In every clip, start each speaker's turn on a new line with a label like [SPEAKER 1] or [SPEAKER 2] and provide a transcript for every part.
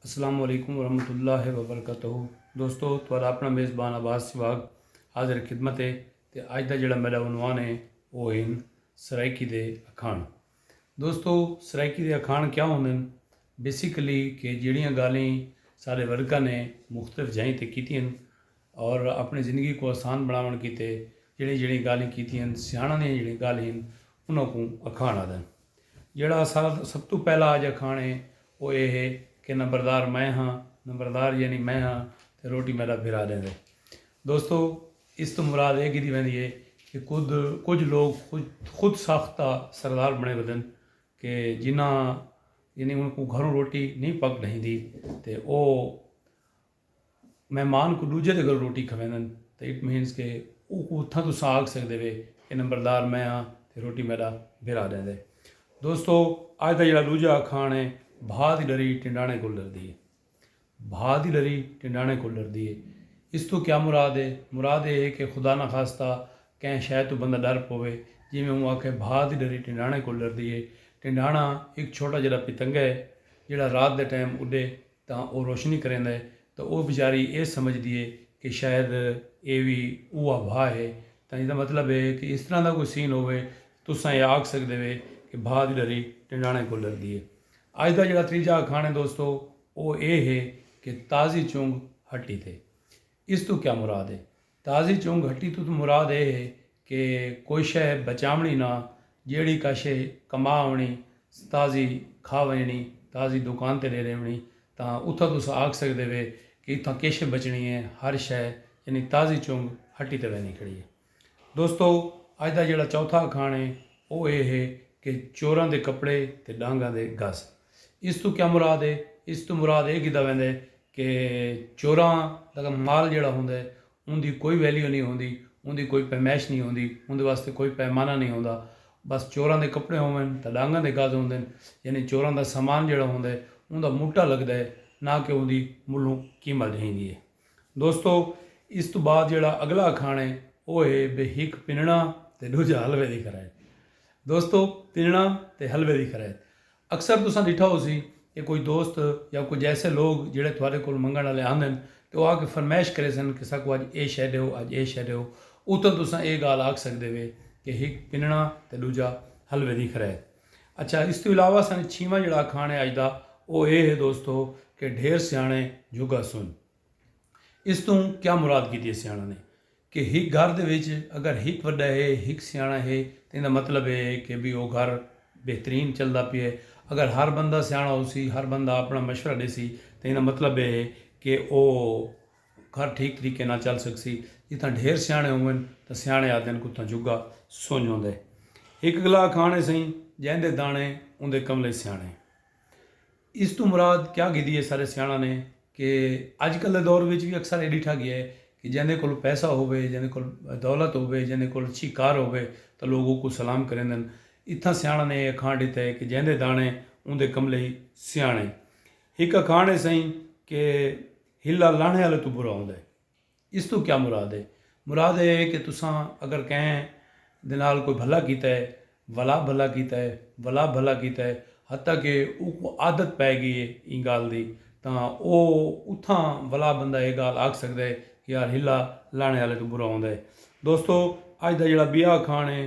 [SPEAKER 1] السلام علیکم ورحمۃ اللہ وبرکاتہ دوستو تھوڑا اپنا میزبان آباد سواگ حاضر خدمت ہے تے اج دا جڑا میرا عنوان ہے وہ ہن سرائیکی دے اکھان دوستو سرائیکی دے اکھان کیا ہوندن بیسیکلی کہ جڑیاں گالیں سارے ورکا نے مختلف جائیں تے کیتی ہیں اور اپݨی زندگی کوں آسان بݨاوݨ کیتے جہڑیاں جہڑیاں گالھیں کیتیاں ہن، سیاݨاں دیاں جہڑیاں گالھیں ہن انہاں کوں اکھاݨ آہدن۔ جہڑا اساݙا سب توں پہلا اڄ اکھاݨ ہے او ایہ ہے کہ نمبردار میں ہاں، نمبردار یعنی میں ہاں تے روٹی میݙا بھرا ݙیندے۔ دوستو! اس توں مراد ایہ گھدی ویندی ہے کہ کدھ کجھ لوک خود ساختہ سردار بݨے ودن کہ جنہاں یعنی انہاں کوں گھروں روٹی نئیں پک ݙہیندی تے او مہمان کوں ڈوجھے دے گھروں روٹی کھویندن تاں اٹ مینز کہ اوکوں اتھاں تساں آکھ سگدے وے کہ نمبردار میں ہاں تے روٹی میڈا بھرا ڈیندے۔ دوستو اج دا جیڑھا ڈوجھا اکھاݨ ہے بھا دی ڈری ٹنڈاݨے کول ڈردی ہے۔ بھا دی ڈری ٹنڈاݨے کول ڈردی ہے۔ اس توں کیا مراد ہے؟ مراد ایہ ہے کہ خدا نخواستہ کہیں شے توں بندہ ڈر پووے جیویں اوں آکھے بھا دی ڈری ٹنڈاݨے کول ڈردی ہے۔ ٹنڈاݨا ہک چھوٹا جیڑھا پتنگہ ہے جیڑھا رات دے ٹائم اڈے۔ تاں او روشنی کریندا ہے تاں او وچاری اے سمجھدی ہے کہ شاید اے وی اوہا بھا ہے تاں ایندا مطلب ہے کہ اس طرح دا کوئی سین ہووے تساں اے آکھ سگدے وے کہ بھا دی ڈری ڈنڈانے کول ڈردی ہے۔ اج دا جیڑھا تریجا اکھاݨ ہے دوستو او اے ہے کہ تازی چنگ ہٹی تے۔ اس توں کیا مراد ہے؟ تازی چوں گھٹی توں مراد اے ہے کہ کوئی شئے بچاونڑی نہ جیہڑی کا شئے کما ونڑی تازی کھا ونجنڑی تازی دکان تے ڈے ڈیونڑی تاں اتھاں تساں آکھ سگدے وے کہ اتھاں کے شئے بچنڑی اے ہر شئے یعنی تازی چونگ ہٹی تے ویندی کھڑی اے دوستو اج دا جیہڑا چوتھا اکھاݨ اے او اے ہے کہ چوراں دے کپڑے تے ڈانگاں دے گز۔ اس توں کیا مراد ہے؟ اس توں مراد ایہ کیتا ویندے کہ چوراں دا مال جیڑھا ہوندے اوندی کوئی ویلیو نی ہوندی اوندی کوئی پیمائش نی ہوندی اوندے واسطے کوئی پیمانہ نی ہوندا بس چوراں دے کپڑے ہوون تاں ڈانگاں دے گز ہوندن یعنی چوراں دا سامان جیڑھا ہوندے اوندا موٹا لگدا ہے نہ کہ اوندی ملھوں قیمت جھیندی ہے دوستو اس توں بعد جیڑھا اگلا اکھاݨ ہے او ہے بھئی ہک پنݨاں تے ڈوجھا حلوے دی خرائط دوستو پنݨاں تے حلوے دی خرائط اکثر تساں ݙٹھا ہوسی کہ کوئی دوست یا کجھ ایسے لوگ جیڑھے تہاݙے کولھ منگݨ آلے آندن تے او آ کے فرمائش کریسن کہ ساکوں اڄ اے شئے ݙیو اڄ اے شئے ݙیو اتوں تساں اے ڳالھ آکھ سڳدے وے کہ ہک پنݨاں تے ݙوجھا حلوے دی خرید اچھا اس توں علاوہ ساݙے چھیواں جیڑھا اکھاݨ ہے اڄ دا او اے ہے دوستو کہ ڈھیر سیاݨے جھڳا سنڄ اس توں کیا مراد کیتی ہے سیاݨاں نے کہ ہک گھر دے وچ اگر ہک وݙا ہے، ہک سیاݨا ہے تاں ایندا مطلب اے ہے کہ بھئی او گھر بہترین چلدا پیا ہے۔ اگر ہر بندہ سیاݨا ہوسی، ہر بندہ آپݨا مشورہ ݙیسی تاں ایندا مطلب اے ہے کہ او گھر ٹھیک طریقے نال چل سڳسی۔ جتھاں ڈھیر سیاݨے ہوون تاں سیاݨے آہدن کہ اتھاں جھڳا سنڄ ہوندا ہے۔ ہک اڳلا اکھاݨ ہے سئیں جیندے داݨے اوندے کنولے سیاݨے۔ اس توں مراد کیا گھدی ہے سارے سیاݨاں نے کہ اڄ کل دے دور وچ وی اکثر اے ݙٹھا ڳیا ہے کہ جیندے کول پیسہ ہووے جیندے کول دولت ہووے جیندے کول اچھی کار ہووے تاں لوک اوکوں سلام کریندن اتھاں سیاݨاں نے اے اکھاݨ ݙتا ہے کہ جیندے داݨے اوندے کملے ای سیاݨے ہک اکھاݨ ہے سئیں کہ ہلا لہݨے آلے توں برا ہوندا ہے۔ اس توں کیا مراد ہے؟ مراد ایہ ہے کہ تساں اگر کہیں دے نال کوئی بھلا کیتا ہے، ولا بھلا کیتا ہے، ولا بھلا کیتا ہے، حتی کہ اوکوں عادت پئے گئی ہے ایں گالھ دی تاں او اتھاں ولا بندہ ایہ گالھ آکھ سکدا ہے کہ یار ہلا لاݨے آلے توں برا ہوندا ہے۔ دوستو! اڄ دا جیڑھا ٻیا اکھاݨ ہے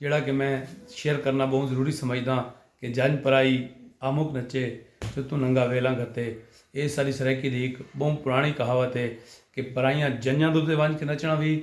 [SPEAKER 1] جیڑھا کہ میں شیئر کرنا بہوں ضروری سمجھداں کہ جنج پرائی آمک نچے جو توں ننگا ویلاں گھتے ایہ ساڈی سرائیکی دی ہک بہوں پراݨی کہاوت ہے کہ پرائیاں جنجاں دے اتے ونج کے نچݨا وی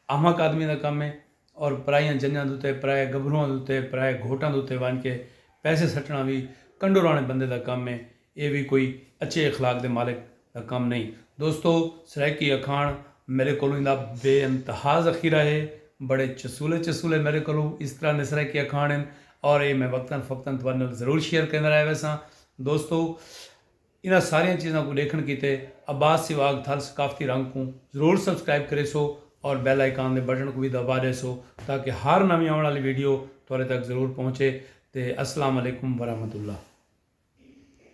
[SPEAKER 1] آمک آدمی دا کم ہے اور پرائیاں جنجاں دے اتے پرائے گبھروواں دے اتے پرائے گھوٹاں دے اتے ونج کے پیسے سٹݨا وی کنڈوراݨے بندے دا کم ہے ایہ وی کوئی اچھے اخلاق دے مالک دا کم نئیں۔ دوستو! سرائیکی اکھاݨ میݙے کولوں ایندا بے انتہا ذخیرہ ہے۔ بڑے چسولے چسولے میݙے کولوں اس طرح نے سرائیکی اکھاݨ ہن اور ایہ میں وقتاً فوقتاً تہاݙے نال ضرور شیئر کریندا رہ ویساں۔ دوستو! انہاں ساریاں چیزاں کوں ݙیکھݨ کیتے عباس سواڳ تھل ثقافتی رنگ کوں ضرور سبسکرائب کریسو اور بیل آئیکن دے بٹن کوں وی دٻا ݙیسو تاکہ ہر نویں آوݨ آلی ویڈیو تہاݙے تک ضرور پہنچے تے السلام علیکم ورحمت اللہ۔